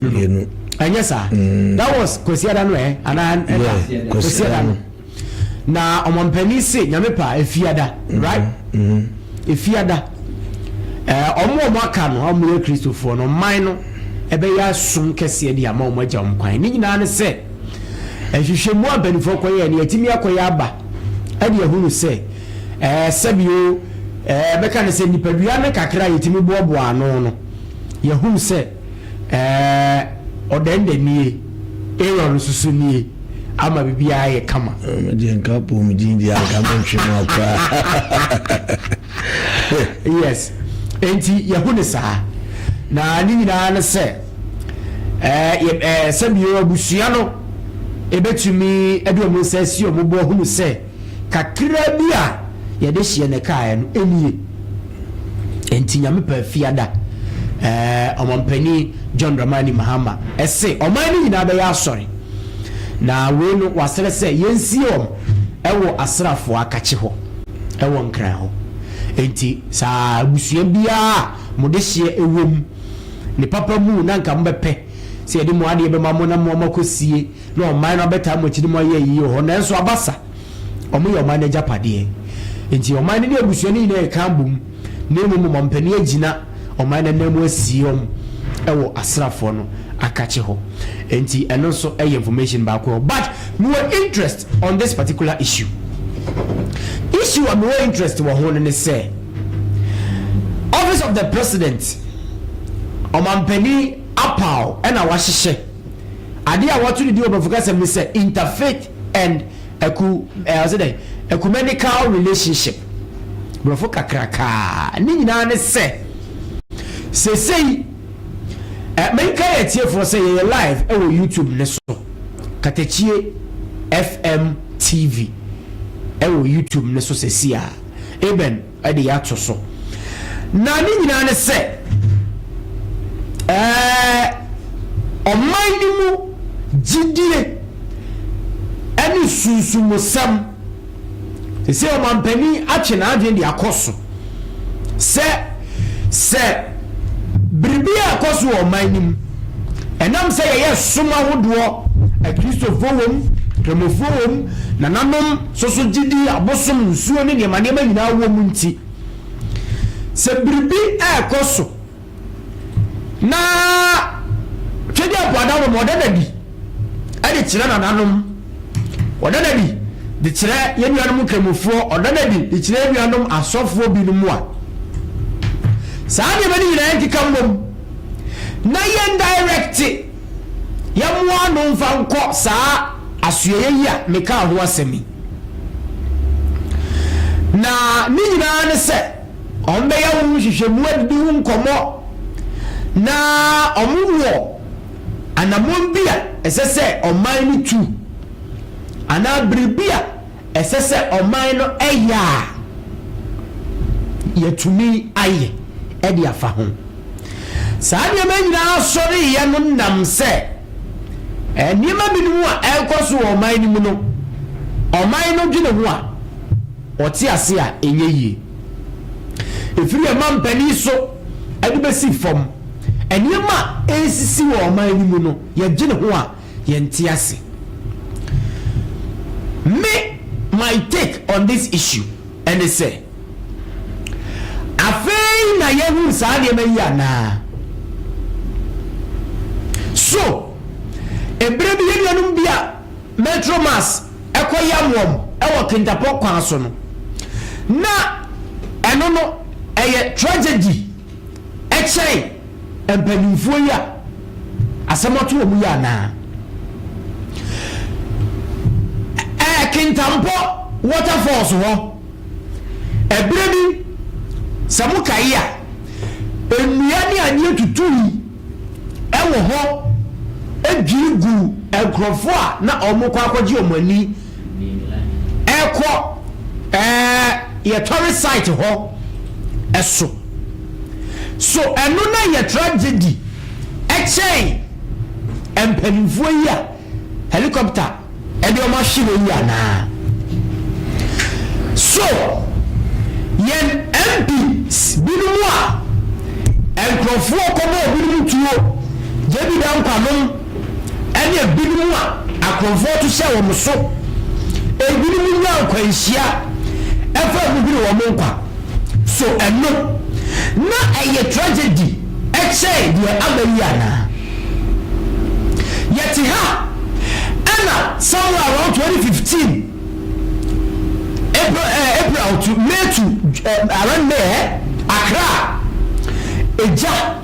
mmienu. Ɛnyɛ saa? Mm. That was Kwasiada no eh? Anaa ɛna? Yeah, Kwasiada no. Na ɔmampanin se nyame pa efiada, mm-hmm. right? Mm-hmm. Efiada. Eh, ɔmo a ɔmo aka no, ɔmo yɛ Kristofoɔ no, ɔman no ɛbɛyɛ asom kɛseɛ de ama ɔmo agya ɔmo kwan. Ne nyinaa ne sɛ, nhwehwɛ mu a mpanimfoɔ kɔyɛ, ne yɛtumi akɔyɛ aba, ɛde ahunu sɛ, ɛɛ eh, sɛbio, ɛɛ eh, bɛka ne sɛ nipadua no kakra a yɛtumi boaboa ano no, yɛhunu sɛ, Ɛɛ, ɔdɛndɛn nie, Aaron nso so nie, ama biribiara ayɛ kama. Me deɛ nka apɔmuden deɛ anka mentwe mu akoraa. yes, enti yɛho ne saa. Na ne nyinaa ne sɛ, ɛɛ, ɛɛ, sɛbio abusua no ɛbɛtumi de wɔn nsa asi wɔn bo ahunu sɛ, kakraa bi a yɛde hyeɛ na ɛkaeɛ no ɛnie. Ɛnti Nyame paa fiada ɛɛ ɔmampanin John Dramani Mahama ɛse ɔman no nyinaa bɛyɛ asɔre na wei no wasrɛ sɛ yɛnsie wɔn ɛwɔ asrafoɔ akakye hɔ ɛwɔ Nkran hɔ. Ɛnti saa abusua biara a mode hyeɛ ɛwɔ mu ne papa mu na nka mobɛpɛ sɛ yɛde mo adeɛ bɛma mo na moama kɔsie Na ɔman no abɛtaa mo akyi ne mo ayɛ ayiyɛ wɔ hɔ, nanso aba sa. Wɔyɛ ɔman no agyapadeɛ. Enti ɔman no ne abusua no nyinaa reka abom, na mmom ɔman panin agyina ɔman no ananmu asie wɔn wɔ asraafoɔ no akakye hɔ. Enti ɛno nso yɛ information baako hɔ. But mewɔ interest on this particular issue. Issue a mewɔ interest wɔ ho no ne sɛ, Office of the President, ɔman panin apaw na wahyehyɛ. Ade a wɔato no din wɔ Borɔfo kasa mu ne sɛ Interfaith and Ecu, eh, ɔse dɛn? Ecumenical Relationship. Borɔfo kakrakaa. Ne nyinaa ne sɛ, sesei, eh, menka yɛ atiefoɔ sɛ yɛyɛ live ɛwɔ YouTube ne so. Katakyie FM TV ɛwɔ YouTube ne so sesei a. Amen. de ato so. Na ne nyinaa ne sɛ, ɛɛ, ɔman no mu gyidie ne sunsumusɛm. Sɛ ɔmampanin atwe n'adwene de akɔ so sɛ, sɛ biribi a ɛkɔ so wɔ ɔman no mu, ɛnam sɛ yɛyɛ som ahodoɔ, Akristofoɔ wɔ mu, Kramofoɔ wɔ mu, nananom, So so gyidi, abosom, nsuo ne nneɛma nneɛma nyinaa wɔ mu nti, sɛ biribi rekɔ so na Twɛdeɛ Ampɔ Adaworo ma ɔda no adi de kyerɛ nananom, ɔda no adi de kyerɛ yɛn nuanom nkramofoɔ, ɔda no adi de kyerɛ yɛn nuanom asɔfoɔ binom a, saa nneɛma no nyinaa nkeka mmom na yɛndaerɛkte. yɛmmoa no mfa nkɔ saa asoɛeɛ yi a mekaa ho asɛm yi. Na ne nyinaa ne sɛ, wɔbɛyɛ wo nhwehwɛmu adidi ho nkɔmmɔ, na wɔwɔ anammɔn bi a ɛsɛ sɛ ɔman no tu, anaa biribi a Ɛsɛ sɛ ɔman no yɛ a yɛatumi ayɛ de afa ho. Saa nneɛma nyinaa sɔreeɛ no nam sɛ nneɛma binom a ɛrekɔ so wɔ ɔman no mu no, ɔman no dwene ho a, wɔte ase a ɛnyɛ yie. Ɛfiri ɔmampanin so de bɛsi fam, nneɛma a ɛresisi wɔ ɔman no mu no, yɛdwene ho a, yɛnte ase. Me my take on this issue ɛne sɛ, afei na yɛhunu saa nneɛma yi anaa? So ɛberɛ bi yɛn nuanom bi a Metro Mass kɔ yam wɔn wɔ Kintapɔ kwan so no, na ɛno no ɛyɛ tragedy kyɛn Mpanimfoɔ yi a asɛm ato wɔn yi anaa? Ɛɛ Kintampo waterfalls hɔ, ɛberɛ bi sɛ mo kae a, nnua ne adeɛ tutui ɛwɔ hɔ dwiri guu nkorɔfoɔ a na wɔn rekɔ akɔgye wɔn ani Ɛkɔ ɛɛ yɛ tourist site hɔ ɛso. So ɛno na yɛ tragedy ɛkyɛn mpanyinfoɔ yi a helicopter ɛde wɔn ahwe hɔ yi anaa? So yɛn MPs binom a nkorɔfoɔ kɔbɔɔ binom tuo JB Dankwa nom. ɛne ebinom a akorɔmfoɔ to hyɛ wɔn so. Ebinom nya nkwanhyia fa mu hwere wɔn nkwa. So ɛno na ɛyɛ tragedy kyɛn deɛ aba yi anaa? Yɛte ha ɛna somewhere around 2015 April, eh, April to May to eh, around May eh, Accra, egya.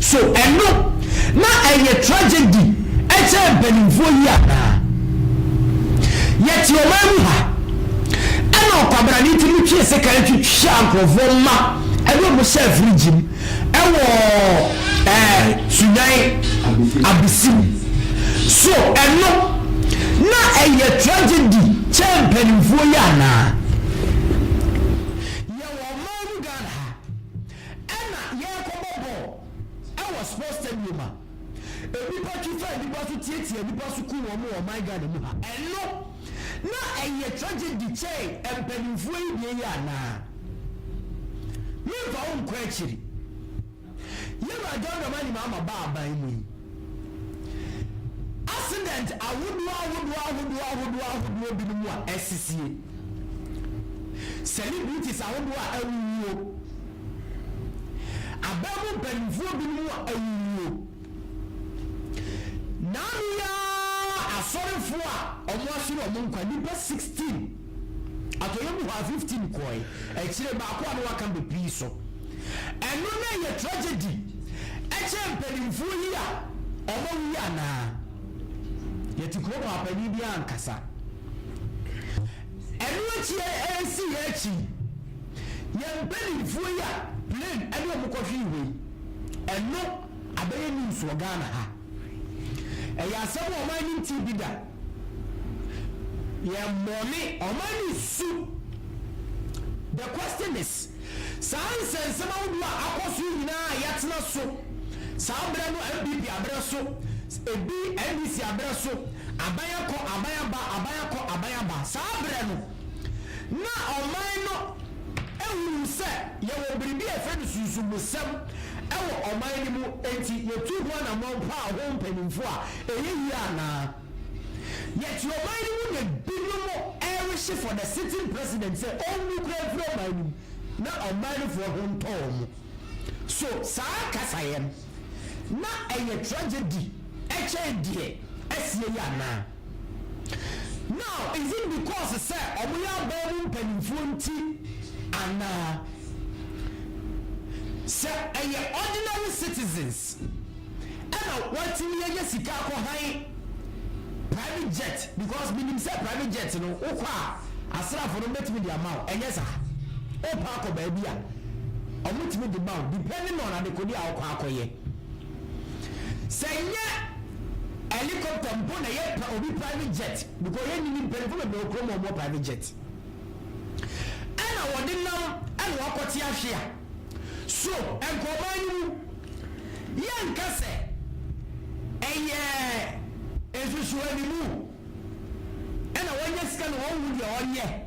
So ɛno na ɛyɛ tragedy kyɛɛ mpaninfoɔ yi anaa? Yɛte ɔman mu ha, ɛna ɔkwabrane tumi twee sekan twitwaa nkorɔfoɔ mma ɛne wɔn hyɛɛ fridge mu ɛwɔ ɛɛ Sunyani Abisi mu. So ɛno na ɛyɛ tragedy kyɛɛ mpaninfoɔ yi anaa? Ɛna yɛrekɔbɔ bɔɔl ɛwɔ sports stadium a nnipa twi fa nnipa so tiatia nnipa so ku wɔn wɔ ɔman Ghana mu ha. Ɛno na ɛyɛ tragedy kyɛn mpaninfoɔ yi deɛ yi anaa? Menfa wo nkɔ akyiri. Yɛwura John Dramani Mahama baa aban mu yi. Asedɛnt ahodoɔ ahodoɔ ahodoɔ ahodoɔ ahodoɔ binom a asisie, celebrities ahodoɔ a awuwuo, aban mu mpanimfoɔ binom a awuwuo, naano yi ara asɔrefoɔ a wɔahyere wɔn nkwa, nnipa 16. Atɔeɛ mu hɔ a 15 kɔe. Akyire baako a na waka bɛpii so. Ɛno na ɛyɛ tragedy kyɛɛ mpanimfoɔ yi a wɔawu yi anaa? Yɛte kuro mu a panin biara ankasa. Ɛno akyi ɛresi yɛn akyi yɛn mpanimfoɔ yi a plane ɛde wɔn kɔhwee hɔ yi ɛno abɛyɛ news wɔ Ghana ha. Ɛyɛ asɛm a wɔn anim ti bi da. Yɛn bɔne, ɔma ne su. The question is, saa nsɛnsɛm ahodoɔ a akɔ so yi nyinaa a yɛatena so saa berɛ no, NPP aberɛ so, ebi NDC aberɛ so, aban akɔ, aban aba, aban akɔ, aban aba, saa berɛ no, na ɔman no hunu sɛ yɛwɔ biribi a yɛfrɛ no sunsummusɛm wɔ ɔman no mu, enti yetuu ho anammɔn paa ho mpanyimfo a, ɛyɛ yie anaa? Yet ɔman no mu na binom rehye for the sitting president sɛ ɔnwu koraa mfiri ɔman no mu na ɔman no foɔ ho ntɔ wɔn. So saa kasayɛ no, na ɛyɛ tragedy kyɛn deɛ asie yi anaa? Now is it because sɛ ɔmo yɛ aban mu mpanyinfoɔ nti anaa? Sɛ ɛyɛ ordinary citizens ɛna watumi anya sika akɔ han private jet because menim sɛ private jet no wokɔ a asraafo no bɛtumi de ama wo ɛnyɛ saa? Wopɛ akɔ baabi a ɔmo tumi de ma wo depending on adekodeɛ a wokɔ akɔyɛ. Sɛ nyɛ helicopter mpo na yɛ pɛ obi private jet because yɛ nini mpanyinfo bebree wɔ kurom a wɔn wɔ private jet ɛna wɔde nam ɛna wakɔ te ahwe a so ɛnkɔ ɔman no mu yɛ nka sɛ ɛyɛ nsusu animu ɛna wɔn nyɛ sika na wɔn hu deɛ wɔn nyɛ.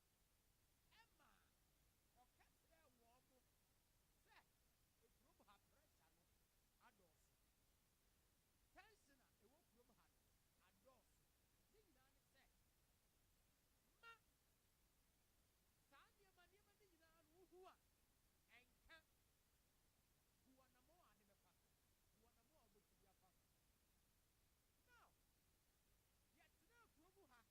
ɛma ɔka kyerɛɛ wɔn sɛ kurom ha pressure no adɔɔso, tension a ɛwɔ kurom ha no adɔɔso, ne nyinaa ne sɛ ma saa nneɛma nneɛma no nyinaa no wohu a ɛnka, bu anammɔn a ade bɛfa so, bu anammɔn a wobɛtumi afa ho. Now, yɛtenaa kurom ha.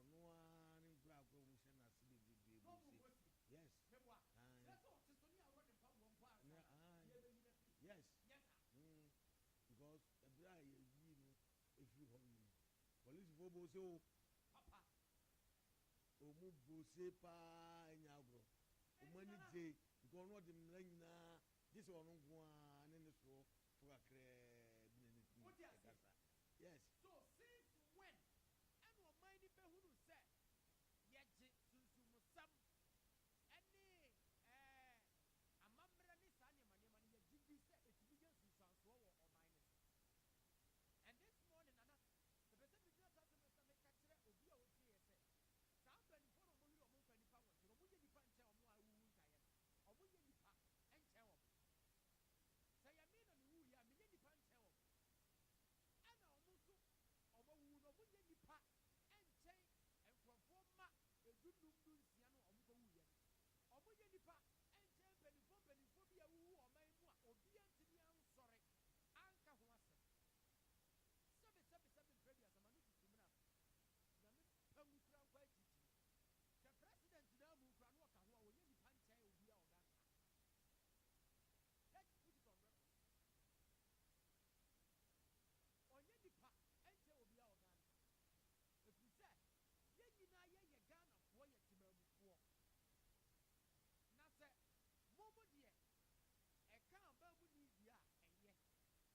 Ɔno ara ne nkorankora mu hyɛ n'ase bebrebe bu se yes yes because ɛberɛ a yɛyii no firi hɔ no polisifo bɔ se o papa ɔmu bɔ se paa ɛnyɛ agorɔ ɔmu ani gye because ɔno ɔde mmara nyinaa gye sɛ ɔno nko ara ne ne soɔ fo kakraa bi na ne kunu rekasa. Yes. So since when ɛna ɔman no bɛhunu sɛ yɛgye sunsummusɛm ne ɛɛ amammerɛ ne saa nneɛma nneɛma no yɛgye di sɛ ɛtumi yɛ nsunsuansoɔ wɔ ɔman no so? And this morning Nana mepɛ sɛ megyina saa asɛm no so na meka kyerɛ obi a ɔtieɛ sɛ saa mpaninfoɔ no a wɔyere wɔn mfa nnipa nwɔtwe no wɔyɛ nnipa nkyɛn wɔn a awuwu ntaeɛ no. Ɔmo nyɛ nipa nkyɛn ɔmo. Sɛ ɛyɛ me na me wuu yɛ a, menyɛ nipa nkyɛn ɔmo. Ɛna ɔmo nso, ɔmo awuwu no, ɔmo nyɛ nipa nkyɛn nkorɔfoɔ mma edunnum dunsia no a ɔmo kɔ wuu yɛ no. Ɔmo nyɛ nipa nkyɛn mpaninfoɔ mpaninfoɔ bi a awuwu wɔ ɔman mu a obiara ntumi ansɔre anka ho asɛm. Sɛbe sɛbe sɛbe mprɛ aduasa ma no tutu mmena no. Nyame pa ngu kura nkɔ akyirikyiri. Sɛ president naa mu kura no ɔka ho a ɔnyɛ nipa nkyɛn obia ɔga nka. Let put it on record. Ɔnyɛ nipa nkyɛn obia ɔga nka. Ɛfiri sɛ yɛn nyinaa yɛ yɛ Ghanafoɔ yɛ temaamufoɔ. Na sɛ mo mo deɛ ɛka abaamuni deɛ a ɛyɛ.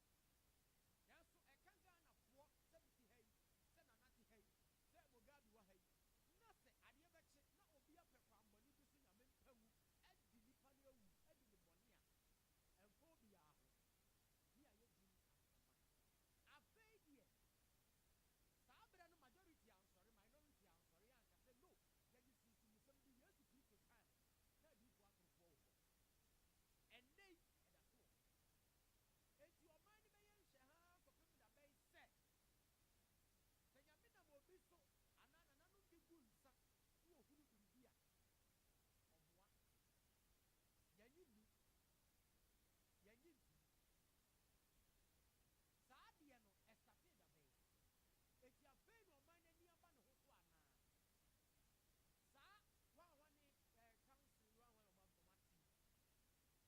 Nanso ɛka Ghana foɔ sɛ me te ha yi, sɛ Nana te ha yi, sɛ Mugabe wɔ ha yi, na sɛ adeɛ bɛkye na obi apɛ kwan bɔne bi so Nyame mpa ngu adi nipa no awu adi ne bɔne a, ɛmfa obiara ho. Me a yɛ din Asaman. Afei deɛ, saa berɛ no majority ansɔre, minority ansɔre anka sɛ no, yɛgye sunsumusɛm di, Yesu Kristo time no, na adiyifoɔ atorofoɔ wɔ hɔ. Ɛnnɛ yi, ɛda so wɔ hɔ. Enti ɔman no bɛyɛ nhwɛhaa kɔpem da bɛn? Sɛ, sɛ Nyame nam obi so anaa nananom bi gu nsa na wɔhunu biribi a, ɔmmoa. Yɛnnye nni. Yɛnnye ntom. Saa adeɛ no, ɛstartee da bɛn? Enti afei na ɔman no ani aba ne ho so anaa? Saa hwanhwane, eh, council yi hwanhwane a wɔn, wɔn ate yi.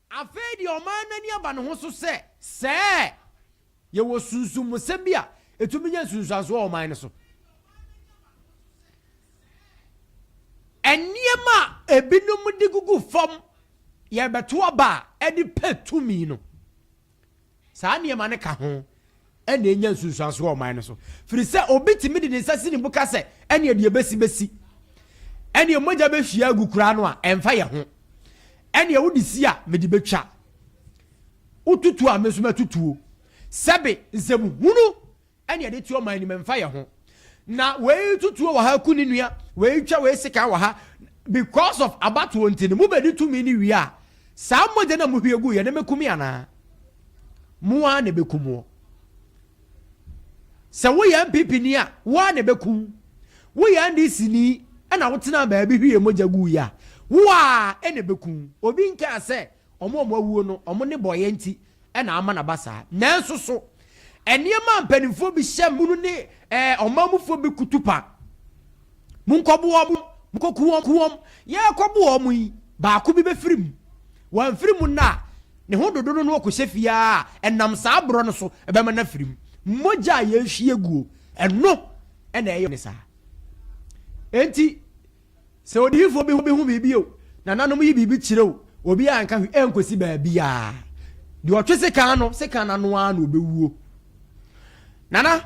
Afei deɛ ɔman no ani aba ne ho so sɛ, Sɛ yɛwɔ sunsummusɛm bi a ɛtumi nya nsunsuansoɔ wɔ ɔman no so. Nneɛma a ebinom de gugu fam yɛrebɛto aba a ɛde pɛ tumi no. Saa nneɛma no ka ho na enya nsunsuanso wɔ ɔman no so. Firi sɛ obi tumi de ne nsa si ne bo ka sɛ ɛneɛ deɛ bɛsi bɛsi. Ɛneɛ mogya bɛhwie agu koraa no a ɛmfa yɛ ho. Ɛneɛ wode si a mede bɛtwa. Wotutuo a me nso mɛtutuo. Sɛbe nsɛmhunu ɛne yɛde to ɔman anim ɛmfa yɛn ho na wei tutuo wɔ ha ku ne nua wei twa wei sekan wɔ ha because of abatoɔ nti no mobɛdi tumi no wie a saa mogya na mohwie gu yɛ ne mɛkumi anaa mo ara na ɛbɛku moɔ sɛ woyɛ mpp ni a wo ara na ɛbɛku woyɛ ndc ni ɛna wotena baabi hwie mogya gu yɛ a wo ara ɛna ɛbɛku obi nkaa sɛ Wɔn a wɔawuo no, wɔn nnebɔɔyɛ nti na ama no aba saa. Nanso so nneɛma a mpanimfoɔ bi hyɛ mu no ne ɛɛ ɔman mufoɔ bi kutupa? Monkɔboa wɔn, monkɔku wɔn, ku wɔn. Yɛrekɔbo wɔn yi, baako bi bɛfiri mu. Wɔamfiri mu nnɛ a, ne ho dodo no na ɔkɔhyɛ fie ara a, ɛnam saa borɔ no so bɛma no afiri mu. Mogya a yɛrehwie guo, ɛno na ɛyɛ ne saa. Enti. Sɛ odiyifoɔ bi ho biribi o, nananom yi biribi kyerɛ o, obiara nka hwee ɛnkɔsi baabiara. Deɛ ɔtwe sekan no, sekan no ano ara na ɔbɛwuo. Nana,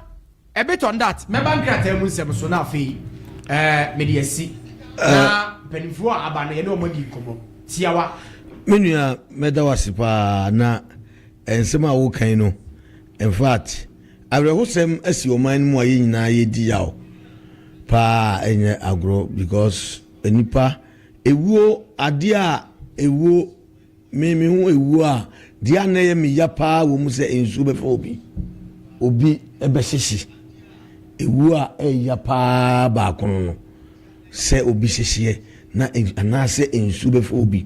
a bit on that, mɛba nkrataa mu nsɛm so na afei eh, mede asi. Na eh. mpanimfoɔ a aba no, yɛne wɔn adi nkɔmmɔ tiawa. Me nua, mɛda wo ase paa na nsɛm a wokan no, in fact, Awerɛhosɛm asi ɔman no mu a yɛn nyinaa yɛdi yaw paa a ɛnyɛ agorɔ because nnipa ɛwuo adeɛ a ɛwuo me me ho ɛwuo a deɛ a na ɛyɛ me ya paa wɔ mu sɛ nsuo bɛfa obi obi ɛbɛhyehye ɛwuo a ɛyɛ ya paa baako no no sɛ obi hyehyeɛ na nsu anaasɛ nsuo bɛfa obi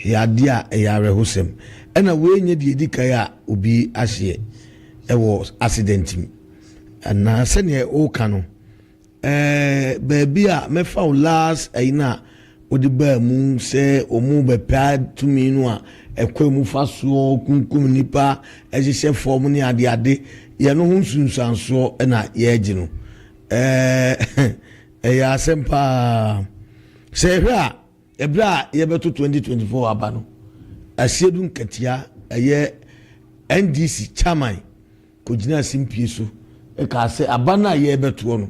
yɛ adeɛ a ɛyɛ awerɛhosɛm. Ɛna wei nyɛ deɛ ɛdi kan a obi ahyeɛ ɛwɔ accident mu. Na sɛdeɛ woka no ɛɛ baabi a mɛfa wo last ɛyi no a wode baa mu sɛ wɔn bɛpɛ tumi no a ɛkwan mu fa soɔ kunkum nipa ɛhyehyɛ fam ne adeade yɛ no ho nsunsuansoɔ ɛna yɛregye no ɛɛ Ɛyɛ asɛm paa. Sɛ yɛhwɛ a, ɛberɛ a yɛbɛto 2024 aba no, Asiedu Nkatia, ɛyɛ NDC chairman kɔgyinaa simpie so kaa sɛ aba no a yɛrebɛtoɔ no,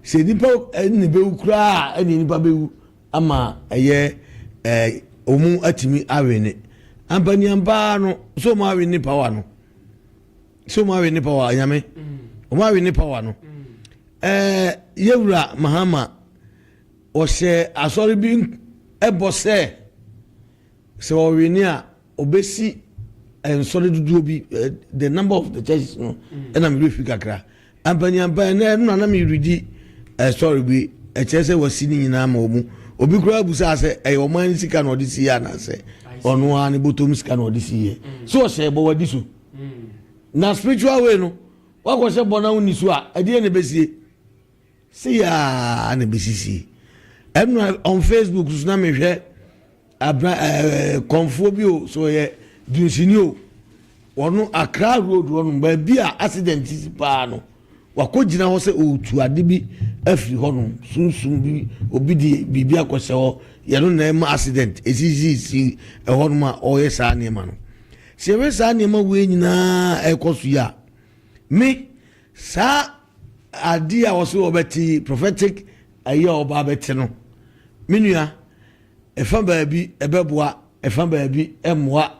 sɛ nnipa nne bɛwu koraa a ɛne nnipa bɛwu ama ɛyɛ wɔn atumi awene. Ampa ni ampa ara no, sɛ wɔn awene power no, sɛ ɔmo awe ne pawa nyame ɔmo awe ne pawa no ɛɛ yɛwura mahama ɔhyɛ asɔre bi ɛbɔ sɛ sɛ ɔwe ne a ɔbɛsi nsɔre dodoɔ bi eh, the number of the churches no ɛna mede fi kakra ampaniampa ɛnɛ no nana meredi eh, sɔre bi ɛkyerɛ sɛ wasi ne nyinaa ma ɔmu obi koraa busaa sɛ ɛyɛ ɔman no sika na ɔde siiɛ anaasɛ ɔno ara ne bɔtɔm sika na ɔde siiɛ so ɔhyɛ bɔ wadi so na spiritual way no wakɔhyɛ bɔ na wonni so a ɛdeɛ na ɛbɛsie se yaa na ɛbɛsisie ɛnora on facebook so na mehwɛ abra ɛɛ kɔnfoɔ bi o so ɔyɛ dunsini o wɔn akra road wɔn baabi a accident paa no Wakogyina hɔ sɛ ɔretu ade bi afiri hɔ nom, sunsum bi, obi de biribi akɔhyɛ hɔ, yɛ no na ɛma accident ɛsisisisi ɛhɔ nom a ɔreyɛ saa nneɛma no. Sɛ yɛhwɛ saa nneɛma wei nyinaa ɛrekɔ so yi a, me, saa adeɛ a wɔse wɔbɛte yi, prophetic ayi a wɔba abɛte no, me nua, ɛfa baabi ɛbɛboa, ɛfa baabi ɛmmoa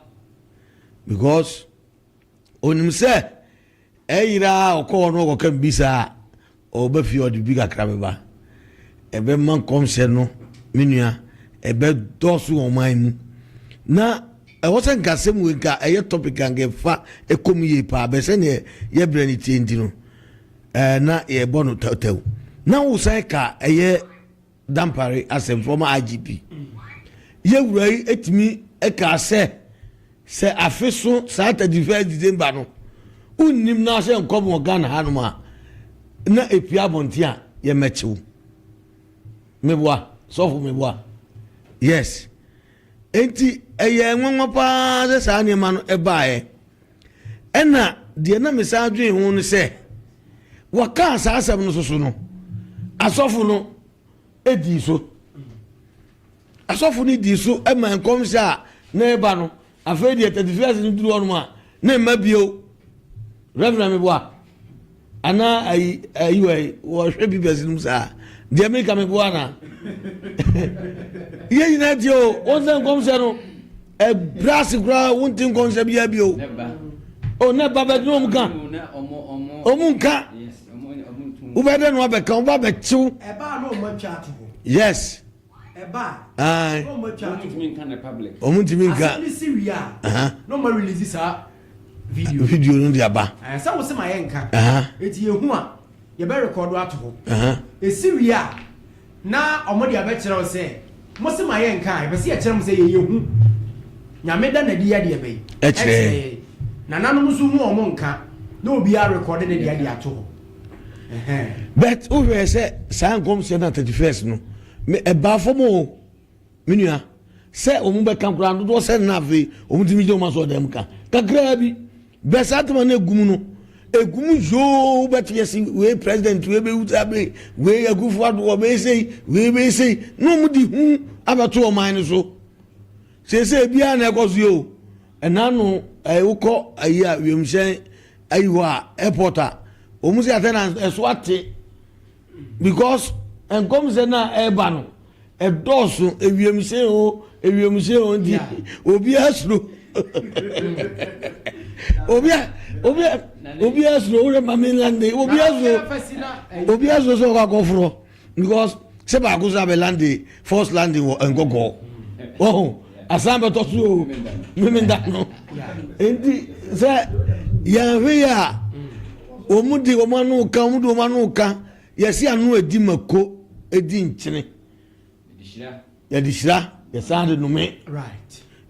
because onim sɛ Ɛyera a ɔkɔ hɔ na ɔkɔka biribi saa a, ɔba fie a ɔde biribi kakra bɛba. Ɛbɛma nkɔmhyɛ no, me nua, ɛbɛdɔɔso wɔ ɔman mu. Na ɛwɔ sɛ nka asɛm wei nka ɛyɛ topic a nka ɛfa ɛkɔ mu yie paa, bɛɛ sɛdeɛ yɛ berɛ no tie nti no, ɛɛ na yɛbɔ no tawtaw. Na wosan ka ɛyɛ. Dampare asɛmfua ma IGP Yewura yi tumi kaa sɛ, sɛ afe so saa 31 December no, wonnim na ahyɛ nkɔm wɔ Ghana hanom a, na epia abɔnten a yɛmɛkyew. Meboa, sɔfo meboa. Yes. Enti ɛyɛ nwanwa paa sɛ saa nneɛma no ɛbaeɛ. Ɛnna deɛ na mesan dwen ho no sɛ, wɔkaa saa asɛm no soso no, asɔfo no dii so. Asɔfo no dii so ma nkɔmhyɛ a na ɛba no, afei deɛ tɛtifiri ase no duru hɔnom a, na ɛmma bio. Reverend Meboa. Ana ayi ayi wɔ yi wɔhwɛ bi bɛsi no mu saa deɛ mi ka mi bo ana yɛ nyinaa tie o wɔn sɛ nkɔmhyɛ no ɛbra ase koraa wɔn ti nkɔmhyɛ bi abi o o ne ba bɛ dun wɔn ka wɔn nka wobɛ dɛ no abɛka wɔn ba bɛ kyew yes. Aye. Wɔntumi nka. Aha. Video no de aba. Aha. Aha. na wɔn de abɛkyerɛw sɛ mo se ma yɛ nka a yɛpɛ sɛ yɛkyerɛ mo sɛ yɛyɛ hu nyame da n'adi yɛ deɛ bɛyi ɛkyerɛ yɛ nananom nso hu wɔn nka na obiara rekɔde ne deɛ de ato hɔ but wo hwɛ sɛ saa nkɔmhyɛ na thirty first no me ɛbaa fam o me nua sɛ wɔn bɛka koraa dodoɔ sɛ nna afei wɔn ti mi gyina wɔn asɔ dɛm ka kakraa bi bɛ saa tema no egum no egum yoo bɛti yɛ si wei president wei bɛ wuta bɛ wei akufo adoɔ bɛ esei wei bɛ esei na wɔn di hu abɛto ɔman no so. Seesei ebiaa na ɛkɔ so yi o. Ɛna no ɛɛ wokɔ ayi a wiemhyɛn ayi hɔ a airport a wɔn si atɛn na ɛso ate because nkɔmhyɛ no a ɛreba no ɛdɔɔso ewiemhyɛn o ewiemhyɛn o nti obiara suro obiara obiara obiara suro wura mami lande obiara suro obiara suro sɛ ɔkɔ akɔforɔ. because sɛ baako so abɛ lande first landing wɔ nkɔkɔɔ wɔho asan bɛtɔ so o memenda no nti sɛ yɛnhwe yɛ a wɔn de wɔn ano ka wɔn de wɔn ano ka yɛsi ano edi mako edi nkyene. Yɛde hyira, yɛsan de nome.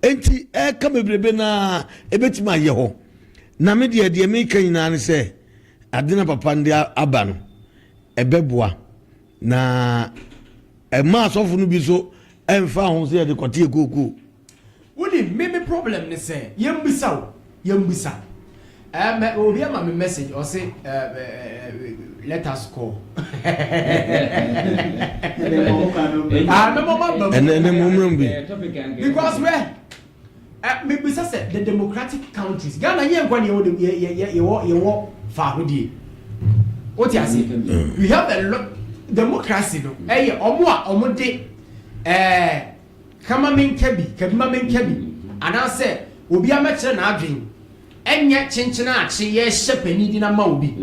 Enti ɛka bebrebe no a ɛbɛtumi ayɛ hɔ. Na me deɛ deɛ meka nyinaa ne sɛ ade na papa no de aba no ɛbɛboa na ɛma asɔfo no bi nso ɛmfa ho sɛ yɛde kɔte akuokuo. Wonim me me problem ne sɛ yɛnbisa o yɛnbisa eh mɛ obi ama me message ɔse eh eh let us call ah mɛmɔ ma ba mu ɛnɛ ne mo mmerɛ bi because wɛ eh me bisa sɛ the democratic countries Ghana yɛ nkwa ne yɛwɔ dem yɛ yɛ yɛ yɛwɔ yɛwɔ faahodie o ti ase we have a lot democracy no ɛyɛ ɔmo a ɔmo de ɛɛ. Ka ma menka bi, ka bi ma menka bi, anaasɛ obiara mmɛkyerɛ n'adwene, ɛnyɛ kyenkyen a kye yɛrehyɛ panin din ama obi.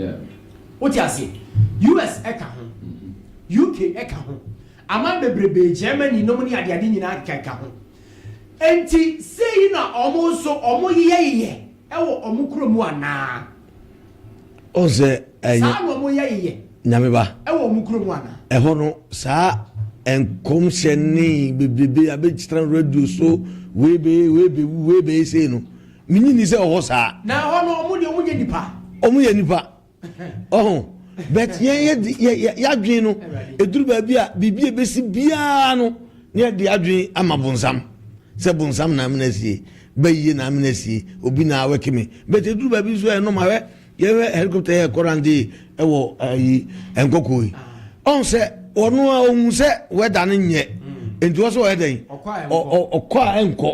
Wote aseɛ? US ka ho, UK ka ho, aman bebrebe, Germany nom ne adeade nyinaa keka keka ho. Enti sei na wɔn nso wɔyeyɛyeyɛ wɔ wɔn kuro mu anaa? ɔn sɛ ɛyɛ saa na ɔmo yɛ yɛ nyame ba ɛwɔ ɔmo kuro mu ana ɛhɔ no saa nkɔmhyɛ ne bebrebe abɛgyina radio so wei bɛyɛ wei bɛwu wei bɛyɛ sei no menyi ni sɛ ɔhɔ saa na ɛhɔ no ɔmo deɛ ɔmo nyɛ nipa ɔmo yɛ nipa ɔho but yɛn yɛ yɛ yɛadwen no ɛduru baabi a biribi a ɛbɛsi biara no ne yɛde adwen ama bonsam sɛ bonsam na amena sie Bɛ yie na amena sie obi na awɛke me but eduru baabi nso ɛyɛ normal hwɛ yɛhwɛ helicopter yɛ kɔ rande ɛwɔ ayi nkɔkɔ yi ɔn sɛ ɔno a ohun sɛ wɛda no nyɛ nti ɔsɛ ɔyɛ dɛn ɔkɔ a ɛnkɔ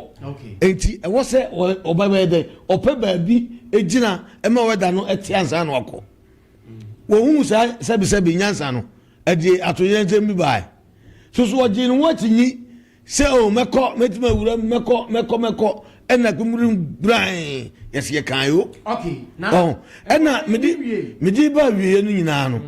nti ɛwɔ sɛ ɔba bɛyɛ dɛn ɔpɛ baabi egyina ɛma wɛda no ɛte ansa na wakɔ wɔhunu saa sɛbisɛbi nyansa no Ɛde atoyerɛnkyɛm bi bae. So so ɔgyee ne ho akyinnye sɛ, Oh, mɛkɔ, mɛtumi awura mu, mɛkɔ, mɛkɔ, mɛkɔ? Ɛnna akwammura mu brann, yɛse yɛkae o. Wahu? Ɛnna mede, mede ba awieeɛ no nyinaa no,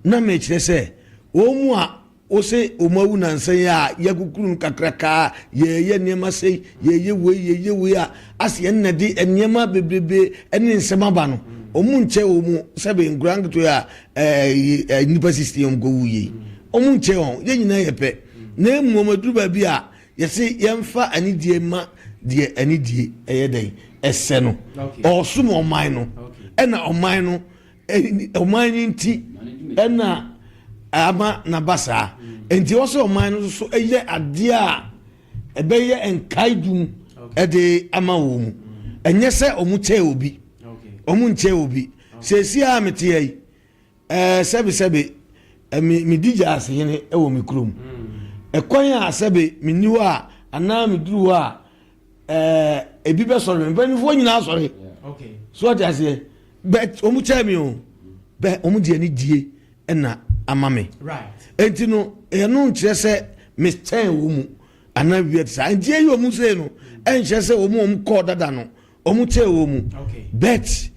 na mekyerɛ sɛ, wɔn a wose wɔawu nnansa yi a yɛakukuru no kakraka a yɛreyɛ nneɛma sei, yɛreyɛ wei, yɛreyɛ wei a, ase yɛn na de nneɛma bebrebe ne nsɛm aba no, wɔn nkyɛ wɔn sɛbe nkwadaa nketewa a ɛɛ nnipa sisi yɛn kɔ wuye yi wɔn nkyɛn wɔn yɛn nyinaa yɛ pɛ na mmom aduru baabi a yɛsi yɛnfa anidie ma deɛ anidie ɛyɛ dɛn ɛsɛ no ɔsom ɔman no ɛna ɔman no ɔman no nti ɛna ama n'aba saa nti wɔsɛ ɔman no nso ɛyɛ adeɛ a ɛbɛyɛ nkae dum ɛde ama wɔn mu ɛnyɛ sɛ wɔn kyɛɛ obi wɔn nkyɛɛ obi. Okay. Seesei a mete ha yi, eh, sɛbe sɛbe eh, me, medi gyaase hene eh, wɔ me kurom. Eh, kwan a sɛbe menni hɔ a, anaa meduru hɔ a, eh, ebi bɛsɔre me. Mpanimfoɔ nyinaa sɔre. So ɔte aseɛ. But wɔn kyɛɛ me o. Bɛ wɔn de anidie na ama me. Enti no, ɛno nkyerɛ sɛ mekyɛn wɔn mu anaa biribi te saa. Enti eyi wɔn sei no, ɛnkyerɛ sɛ wɔn a wɔn kɔɔ dada no, Wɔn tee wɔn mu. But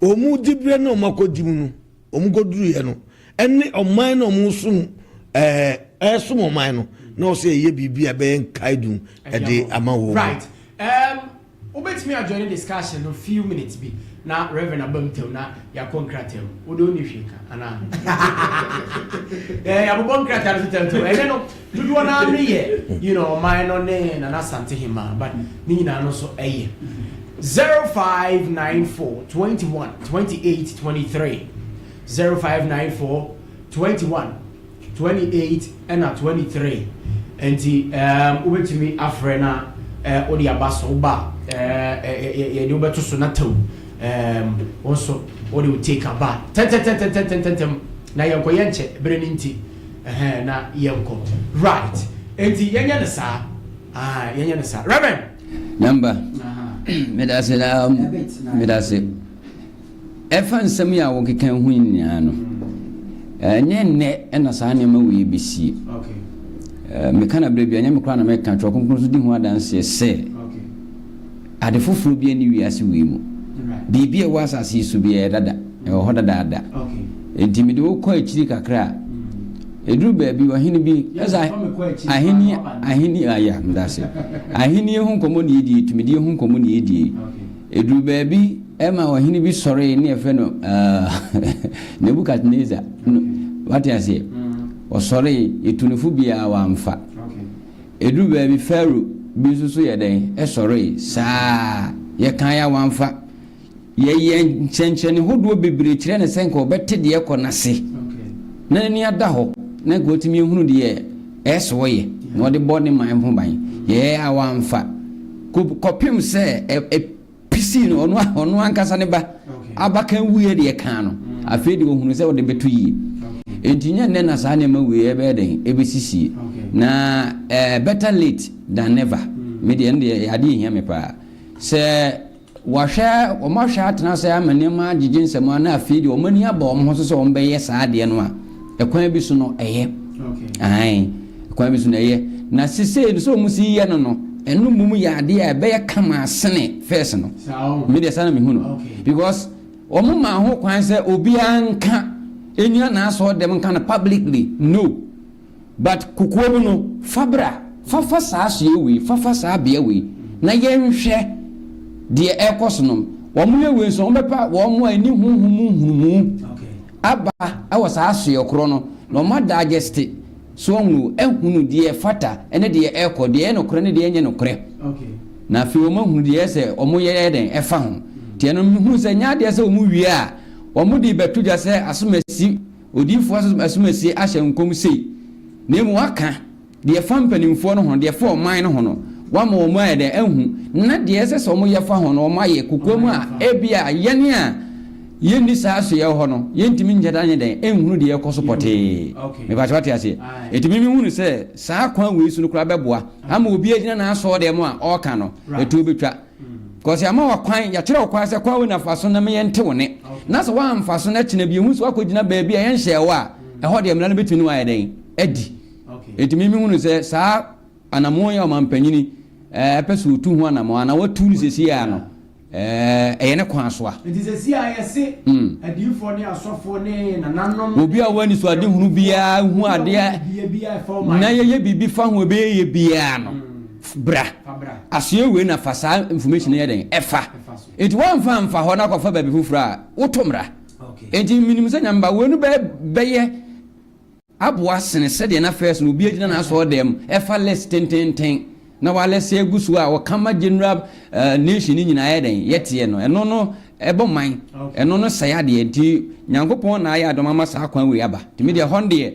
wɔn diberɛ na wɔn akɔdi mu no, wɔn kɔduruiɛ no, ɛne ɔman na wɔn som ɛɛ ɛsom ɔman no na wɔsɛ ɛyɛ biribi a ɛbɛyɛ nkaedu ɛde ama wɔn. Right. Um, wobɛtumi adjoin discussion no few minutes bi na reverend aba mu tɛm na yɛakɔ nkrataa mu wode wonni hwee ka anaa yɛabobɔ nkrataa no so tɛmtɛm ɛnɛ no Dodoɔ no ara no yɛ you know ɔman no ne Nana Asante hemaa but ne nyinaa no nso ɛyɛ zero five nine four twenty one twenty eight twenty three zero five nine four twenty one twenty eight ɛna twenty three nti ɛɛm wobɛtumi afrɛ na ɛɛ wode aba so woba ɛɛ yɛ yɛde wobɛto so na tɛw ɛɛm wo nso wode wo take aba tɛntɛntɛntɛntɛntɛntɛntɛm na yɛnkɔyɛ nkyɛ bere no nti Ɛhɛn na yɛnkɔ right nti yɛnyɛ no saa aah yɛnyɛ no saa Rev. Nyamba, medase daa mu, medase. Ɛfa nsɛm yi a wokeka yi ho nyinaa no, ɛnyɛ nnɛ na saa nneɛma wei ebesie. Meka no berɛ biara, ɛnyɛ me koraa na meka, Twerɛ Kronkron nso di ho adanseɛ sɛ. Ade foforo biara nni wiase wei mu. Biribi a ɛwɔ asase yi so biara, ɛyɛ dada. Ɛwɔ hɔ dadaada. Enti mede wo kɔ akyiri kakra a, ɛduru baabi, ɔhene bi, ɛsɛ ahenni, ahenni, ah, ya, meda ase. Ahenni ho nkɔmmɔ na yɛdie, tumidie ho nkɔmmɔ na yɛdie. Ɛduru baabi, ɛma ɔhene bi sɔree ne yɛfrɛ no, ah, Nebukadnesar. No, wate aseɛ? Ɔsɔree, yɛtu no fo biara, wamfa. Ɛduru baabi Farao bi nso so yɛ dɛn? Ɛsɔree saa ara. Yɛkae a wamfa. Yɛyɛ nsɛnkyerɛnne hodoɔ bebree kyerɛ no sɛ nka ɔbɛte deɛ ɛrekɔ no ase na n'ani ada hɔ na nka watumi ahunu deɛ ɛso ɔyɛ na ɔde bɔ ne man ho ban. Yɛyɛ a wamfa. Kɔpem sɛ pisii no, ɔno ɔno ankasa ne ba abakan wuiɛ deɛ kaa no, afei deɛ ɔhunu sɛ ɔde bɛto yie. Enti nyɛ nnɛ na saa nneɛma wei ɛbɛyɛ dɛn ɛbɛsisie. Na eh, better late than never. Hmm. Me deɛ ɛno deɛ adeɛ ɛhia me paa. Sɛ wɔahwɛ wɔn ahwɛ atena sɛ ama nneɛma agyegye nsɛm a na afei deɛ wɔn ani aba wɔn ho so sɛ wɔn bɛyɛ saa adeɛ no a, ɛkwan bi so no ɛyɛ ae ɛkwan bi so no ɛyɛ na sisei no sɛ ɔmo si yɛ no no ɛno mmom yɛ adeɛ a ɛbɛyɛ kama asene fɛs no me deɛ saa na mehu no because ɔmo ma ho kwan sɛ obiara nka ɛnyina naasɔɔ dɛm nka no publicly no But kokoa mu no fa bra. Fa fa saa soɛ wei fa fa saa bea wei na yɛnhwɛ deɛ ɛkɔ so nom wɔn yɛ wei nso wɔn bɛpa wɔn a ɛni honhom mu nhunumu aba ɛwɔ saa soɛ korɔ no na wɔn adagyɛste so wɔn ahunu deɛ ɛfata ɛne deɛ ɛkɔ deɛ ɛyɛ nokorɛ ne deɛ ɛnyɛ nokorɛ na afei wɔn ahunu deɛ ɛyɛ sɛ wɔn yɛ yɛ dɛn ɛfa ho tiɛ no mehunu sɛ nyɛ adeɛ sɛ wɔn wie a wɔn de bɛto dwa sɛ asomasi Odiyifoɔ asomasie ahyɛ nkɔm sei, na mmom waka deɛ ɛfa mpanimfoɔ no ho, deɛ ɛfa ɔman no ho no, wama wɔn ayɛ dɛn? Ahu, na deɛ ɛsɛ sɛ wɔyɛ fa ho no, wɔayɛ, kokoam a, ebia yɛn a yɛnni saa asoɛeɛ hɔ no, yɛntumi nyɛ dɛn, anyɛ dɛn, nhunu deɛ ɛrekɔ so pɔtee. Mepa sɛ wate aseɛ? Enti me mehunu sɛ saa kwan wei so no koraa bɛboa ama obi agyina n'asɔɔdɛm a ɔreka no, ɛtoɔ bɛtwa. Kɔs yɛama wo kwan, yɛakyerɛ wo kwan sɛ kwan wei na fa so na me yɛnte wo nne. Na sɛ woamfa so na kyena bi yɛhu sɛ woakɔgyina baabi a yɛnhyɛɛ wo a, ɛhɔ deɛ mmara no bɛtumi ne wo ayɛ dɛn? Adi. Enti me mehunu sɛ saa anammɔn yi a ɔmampanyini pɛ sɛ ɔtu ho anammɔn anaa watu no seesei ara no, ɛyɛ ne kwan so a. Enti seesei ara yɛse adiyifoɔ ne asɔfoɔ ne nananom. Obi a ɔwɔ anisoadehunu biara hu adeɛ na yɛyɛ biribi fa ho a ɛbɛyɛ yie biara no. Bra. Asoɛ wei na fa saa information no yɛ dɛn? Ɛfa. Enti woamfa amfa hɔ na kɔfa baabi foforɔ a, woto mmra. Enti menim sɛ Nyame ba, wei no bɛ, bɛyɛ aboa sene sɛdeɛ na first no obi agyina n'asɔɔdɛm ɛfa list tententen na walɛsɛ agu so a ɔka ma general uh, nation no nyinaa yɛ dɛn yɛteɛ no. Ɛno no ɛbɔ man, ɛno no sɛe adeɛ. Nti Nyankopɔn na ayɛ adom ama saa kwan wei aba. Nti me deɛ hɔ no deɛ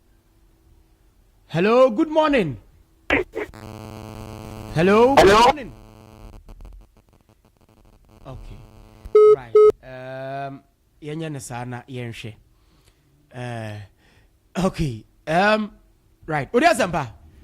Hello, good morning. Hello, good morning. Okay, right. Um, yɛnyɛ ne saa na yɛnhwɛ. Uh, okay, um, right. Ode asɛmpa.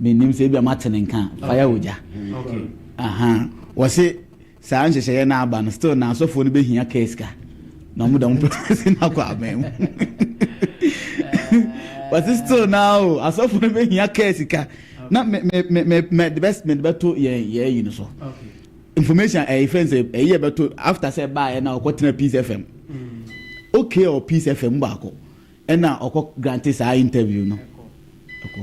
menim sɛ ebia mate ne nka fire ogya wɔse saa nhyehyɛeɛ no aba no still na asɔfoɔ no bɛhia kaa sika na ɔmo da mo pɛsi no akɔ aban mu wɔse still na o asɔfoɔ no bɛhia kaa sika na mede bɛto yɛn yɛayi no so information ɛyɛ eh, fɛn sɛ ɛyi eh, ɛbɛto after sɛ baayɛ na ɔkɔtena peace fm mm. okay or peace fm baako Ɛna ɔkɔ grante saa interview no ɛkɔ.